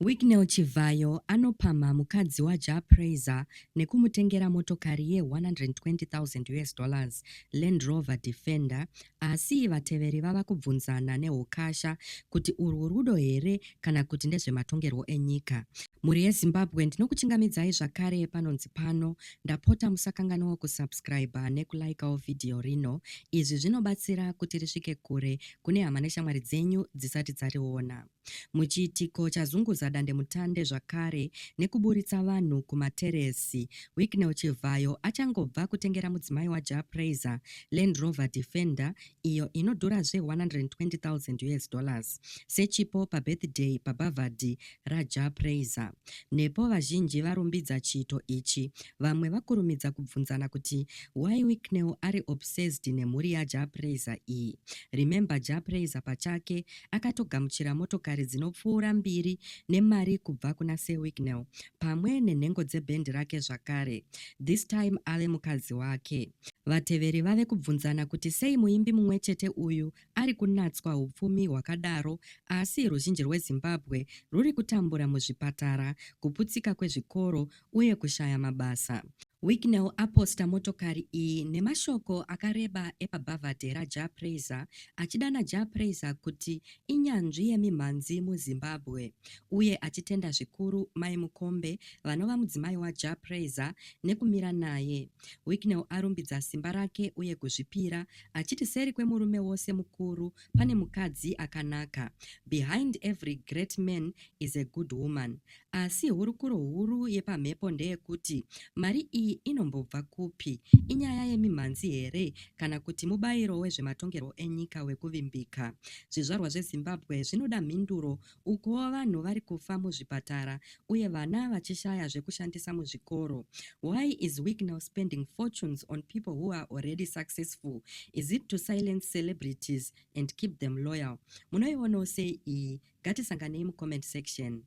Wicknell Chivhayo anopamha mukadzi waJah Prayzah nekumutengera motokari ye 120,000 us dollars Land Rover Defender asi vateveri vava kubvunzana nehukasha kuti urwu rudo here kana kuti ndezvematongerwo enyika. Mhuri yeZimbabwe ndinokuchingamidzai zvakare panonzi pano ndapota musakanganwa kusubscriber nekulikeawo vhidhiyo rino izvi zvinobatsira kuti risvike kure kune hama neshamwari dzenyu dzisati dzariona. Muchiitiko chazunguza dandemutande zvakare nekuburitsa vanhu kumateresi, Wicknell Chivhayo achangobva kutengera mudzimai waJah Prayzah Land Rover Defender iyo inodhura zve 120,000 US dollars sechipo pabirthday pabhavhadhi raJah Prayzah. Nepo vazhinji varumbidza chiito ichi, vamwe vakurumidza kubvunzana kuti why Wicknell ari obsessed nemhuri yaJah Prayzah iyi. Remember Jah Prayzah pachake akatogamuchira motokari dzinopfuura mbiri nemari kubva kuna Sir Wicknell pamwe nenhengo dzebhendi rake zvakare, this time ave mukadzi wake. Vateveri vave kubvunzana kuti sei muimbi mumwe chete uyu ari kunatswa hupfumi hwakadaro asi ruzhinji rweZimbabwe rwuri kutambura muzvipatara, kuputsika kwezvikoro uye kushaya mabasa. Wicknell aposta motokari iyi nemashoko akareba epabhavhadhe raJah Prayzah achidana Jah Prayzah kuti inyanzvi yemimhanzi muZimbabwe uye achitenda zvikuru Mai Mukombe vanova mudzimai waJah Prayzah nekumira naye. Wicknell arumbidza simba rake uye kuzvipira achiti seri kwemurume wose mukuru pane mukadzi akanaka. Behind every great man is a good woman. Asi hurukuro huru yepamhepo ndeyekuti mari iyi inombobva kupi? Inyaya yemimhanzi here kana kuti mubairo wezvematongerwo enyika wekuvimbika? Zvizvarwa zveZimbabwe zvinoda mhinduro ukuwo vanhu vari kufa muzvipatara uye vana vachishaya zvekushandisa muzvikoro. Why is WIC now spending fortunes on people who are already successful? Is it to silence celebrities and keep them loyal? Munoionawo sei iyi? Ngatisanganei mucomment section.